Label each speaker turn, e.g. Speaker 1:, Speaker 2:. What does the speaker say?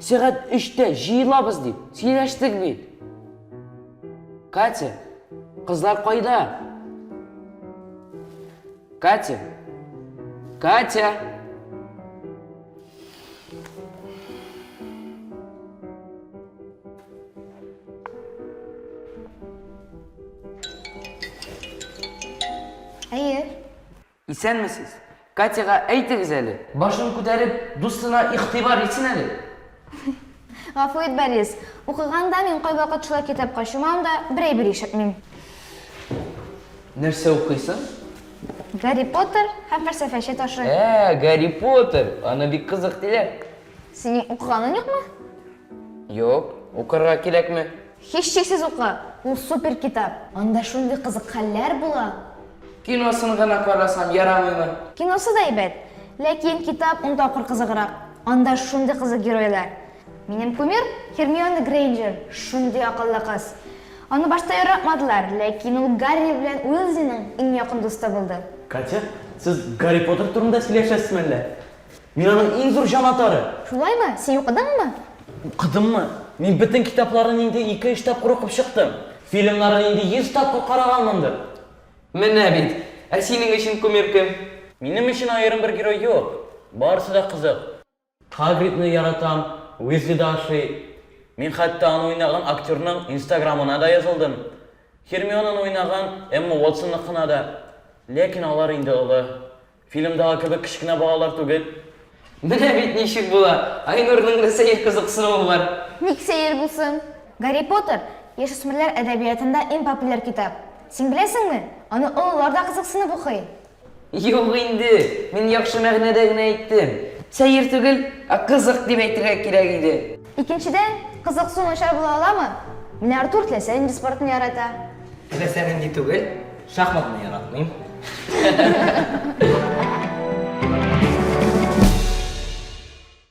Speaker 1: Сәгать өчтә җыелабыз дип сөйләштек бит. Катя, кызлар кайда? Катя, Катя. Әйе. Исәнмесез! Катяга әйтегез әле, башын күтәреп, дустына игътибар итсен әле!
Speaker 2: Гафу ит, Борис. Укыганда мин кайвакыт шулай китапка чумам да, бер әйбер ишетмим.
Speaker 1: Нәрсә укыйсың? Гарри
Speaker 2: Поттер һәм фәлсәфәче ташы. Ә, Гарри Поттер!
Speaker 1: Аны бик кызык диләр. Синең
Speaker 2: укыганың юкмы? Юк,
Speaker 1: укырга кирәкме? Һичшиксез укы,
Speaker 2: ул супер китап. Анда шундый кызык хәлләр була. Киносын
Speaker 1: гына карасам ярамыймы? Киносы да әйбәт,
Speaker 2: ләкин китап ун тапкыр кызыграк. Анда шундый кызык геройлар. Минем кумир Һермиона Грейнджер, шундый акыллы кыз. Аны башта яратмадылар, ләкин ул Гарри белән Уилзиның иң якын дусты булды. Катя, сез
Speaker 3: Гарри Поттер турында сөйләшәсезме әллә? Мин аның иң зур җанатары! Шулаймы? Син
Speaker 2: укыдыңмы? Укыдыммы?
Speaker 3: Мин бөтен китапларын инде ике-өч тапкыр укып чыктым. Фильмнарын инде йөз тапкыр караганмындыр. Менә
Speaker 1: бит! Ә синең өчен кумир кем? Минем өчен аерым
Speaker 3: бер герой юк. Барысы да кызык. Хагридны яратам, Уизли да ошый. Мин хәтта аны уйнаган актерның инстаграмына да язылдым. Һермионаны уйнаган Эмма Уотсонныкына да. Ләкин алар инде олы. Фильмдагы кебек кечкенә балалар түгел. Менә бит
Speaker 1: ничек була! Айнурның да сәер кызыксынуы бар. Ник сәер булсын?
Speaker 2: Гарри Поттер, яшүсмерләр әдәбиятында иң популяр китап. Син беләсеңме? Аны олылар да кызыксынып укый. Юк
Speaker 1: инде, мин яхшы мәгънәдә генә әйттем. Сәер түгел, ә кызык дип әйтергә кирәк иде. Икенчедән,
Speaker 2: кызыксу начар була аламы? Менә Артур теләсә нинди спортны ярата. Теләсә нинди
Speaker 1: түгел, шахматны яратмыйм.